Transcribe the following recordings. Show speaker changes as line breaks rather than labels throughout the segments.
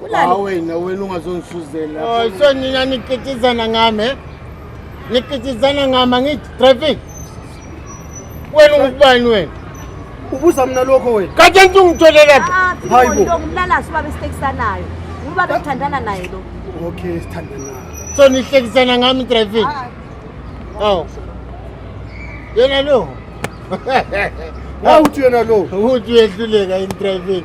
Kulala. wena wena ungazongisuzela. Oh,
so nina nikitizana ngami eh? Nikitizana ngami angithi traffic. Wena ungubani wena? Ubuza mina
lokho wena. Kanti anti ungitholela
phi? Ah, Hayi bo. Sibonile
umlalasi ubaba esitekisanayo. Uba bekuthandana naye lo. Okay,
sithandana. So nihlekisana
ngami traffic. Aw. Yena lo. Awuthi
yena lo. Uthi uyehluleka
in traffic.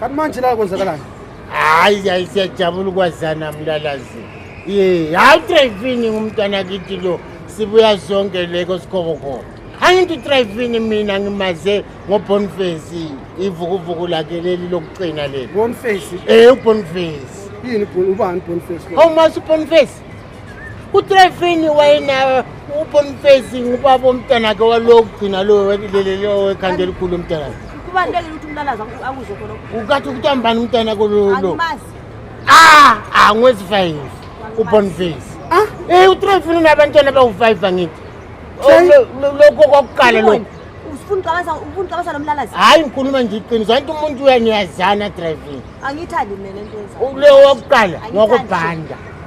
kanti manje
la kwenzakalani hayi hayi
siyajabula ukwazana mlalazi ye hayi utrayifini ngumntwana kithi lo sibuya zonke leko sikhokokhona angithi utrayifini mina ngimaze ngobonface ivukuvuku lakhe leli lokugcina leli bonface um
ubonface yini
ubani
bonface awumazi ubonface
utrefini wayenawe ubonifezi ngubaba omntanakhe walokugcina lowo ekhanda elikhulu umntanakhe kubalulekile ukuthi umlalaza akuzo
khona ukathi ukutambani umntana
kololo
ah ah ngwezi 5
ubonface ah eh utrefini unabantwana bawu5 angithi lokho kokuqala lokho ufuna ucabasa
ufuna ucabasa lomlalazi hayi ngikhuluma nje
iqiniso anti umuntu uyaniyazana driving angithandi mina
lento yenza leyo wokuqala
ngokubhanda